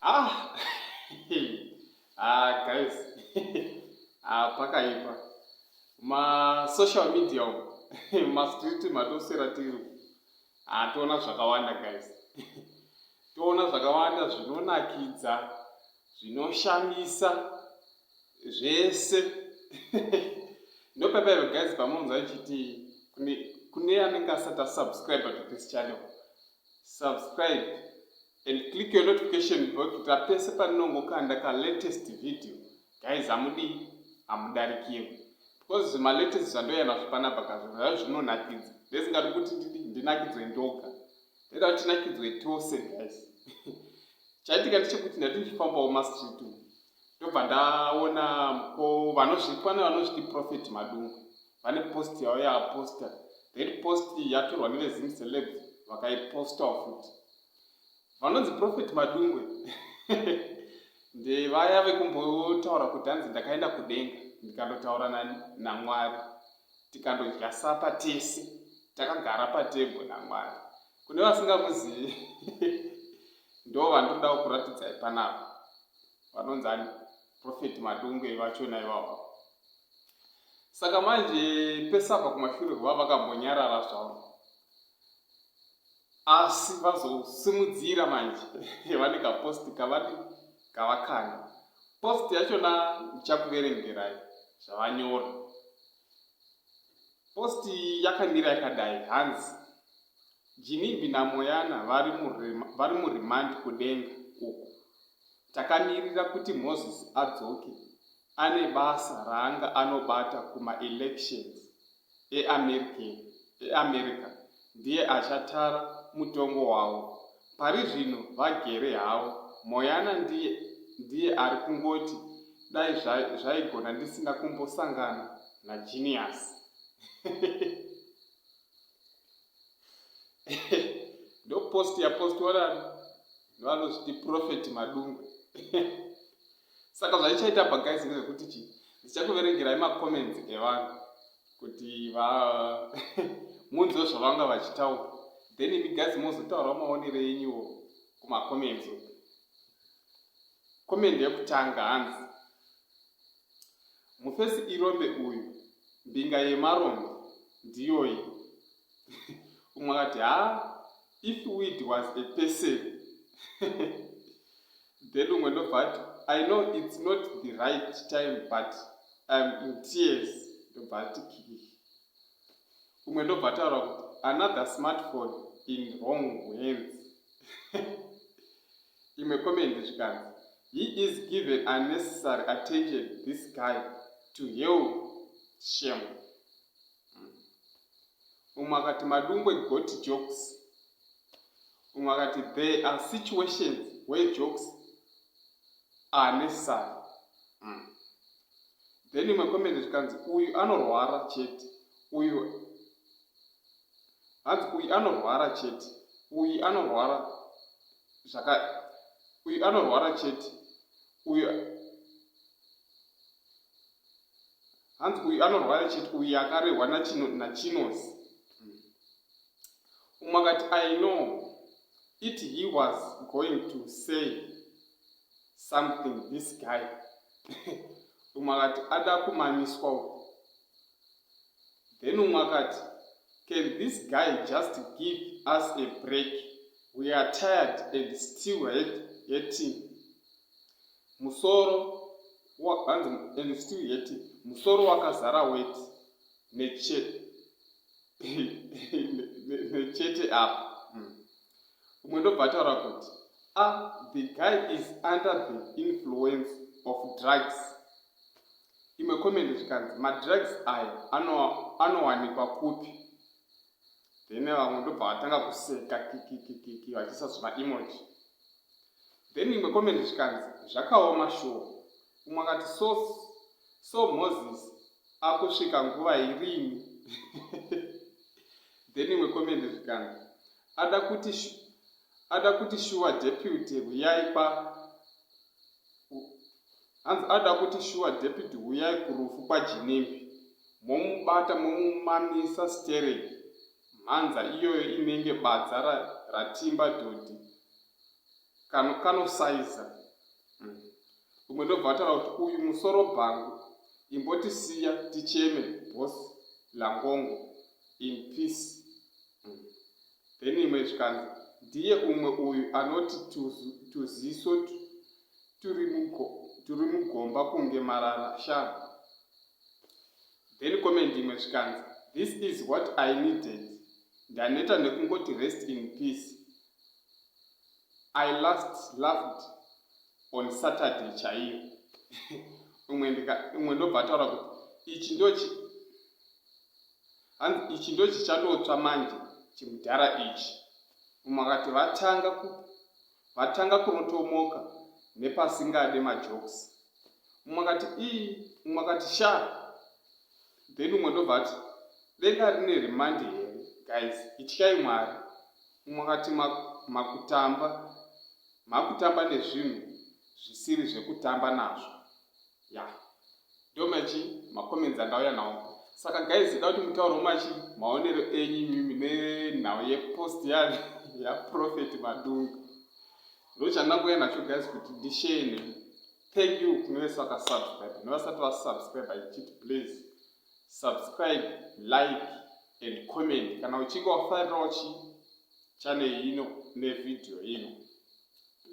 Ah, ah guys, ah pakaipa ma social media umu ma street matosera tiri ah toona zvakawanda guys toona zvakawanda zvinonakidza zvinoshamisa zvese ndopepaive guys pamunonzwa chiti kune kune anenge asati asubscribe to this channel subscribe and click your notification bell kuti apese paninongokanda ka latest video guys amudii amudarikirwe because zvimalatest zvandoyana zvipanapa kazvozvaa zvinonakidza ndesingadi kuti ndinakidzwe ndoga ndoda kuti tinakidzwe tose guys chaitika ndechekuti ndati ndichifambawo mastreet ndobva ndaona ko vanozvitwa nevanozviti prophet madungu vane post yavo yaaposta that post yatorwa nevezim celeb vakaipostawo futi vanonzi prophet madungwe ndevaya vekumbotaura kuti hanzi ndakaenda kudenga ndikandotaura namwari tikandodya sapa tese takagara patebwe namwari kune vasingamuzivi ndo vandinoda kuratidzai panapa vanonzi ani profeti madungwe vachona ivavo saka manje pesabva kumashure kuva vakambonyarara zvavo asi vazosimudzira manje vane kaposti kavati kavakanda posti yachona ndichakuverengerai zvavanyora Post iyi yakamira yakadai hanzi Jinimbi naMoyana vari muremand kudenga uku. Takamirira kuti Moses adzoke ane basa raanga anobata kumaelections eAmerica ndiye achatara mutongo wavo Parizvino vagere havo. Moyana ndiye ndiye ari kungoti dai zvaigona ndisina kumbosangana naGenius. ndopost yapost wadan vanozviti profet madungwe saka zvaichaita bagaisi ndezvekuti chii ndichakuverengerai macomments evanhu kuti va munzwe zvavanga vachitaura then imi guys mozotaura maonero enyuwo kumacomments uku comment yekutanga hanzi mufesi irombe uyu mbinga yemarombe ndiyoyi umwe akati haa if weed was a person then umwe ndobva ati i know its not the right time but im in tears ndobva ati kii umwe ndobva ataura kuti another smartphone in wrong hands imwe komendi zvikanzi he is given unnecessary attention this guy to hell shame umwe akati madungwe got jokes umwe akati there are situations where jokes are necessary mm. then imwe comment zvikanzi uyu anorwara chete uyu hanzi uyu anorwara chete uyu anorwara zvaka uyu anorwara chete uyu hanzi uyu anorwara chete uyu akarehwa nachino nachinos umwe akati i know it he was going to say something this guy umwe akati ada kumamiswa uku then umwe akati can this guy just give us a break we are tired and still hurting Musoro wa bhanzi and it's still hurting. Musoro wakazara weti nechete nechete apa. Hmm. Umwe ndobva ataura kuti ah the guy is under the influence of drugs. Imwe comment zvikanzi madrugs aya anowanikwa ano kupi? Then vamwe ndobva vatanga kuseka kikikikiki vachiisa zvima emoji. then imwe comment zvikanzi zvakaoma sure umwe akati so so moses akusvika nguva irini then imwe comment zvikanzi ada kuti ada kuti shuwa deputy huyai pa hanzi ada kuti shuwa deputy huyai kurufu kwajinembi momubata momumamisa stering Mhanza iyoyo inenge badza ratimba dhodhi kano kanosaiza umm umwe ndobva ataura kuti uyu musoro bhangu imbotisiya ticheme boss langongo in peace umm then imwe zvikanzi ndiye umwe uyu anoti tuziso turi mugomba kunge marara shaa Then comment imwe zvikanzi this is what I needed ndaneta nekungoti rest in peace I last loved on Saturday chaiyo umwe ndika umwe ndobva ataura kuti ichi ndochi hanzi ichi ndochichatotswa manje chimudhara ichi umwe akati vatanga Vatanga kurotomoka nepasingade majokes. Mumwe akati ii, mumwe akati shaa. Then mumwe ndobva ati denga rine remand here guys ityai Mwari. Mumwe akati makutamba, makutamba nezvinhu zvisiri zvekutamba nazvo. ya yeah. ndomachi macomments andauya nawo saka guys ida kuti mutauro machi maonero enyu imimi nenhau yepost yane yaprofet madunga ndochandanguya nacho guys kuti ndishare nemi thank you kune vese vakasubscribe nevasati vasubscribe ichiti please subscribe like and comment kana uchinge wafarirawo chi chanel ino nevideo ino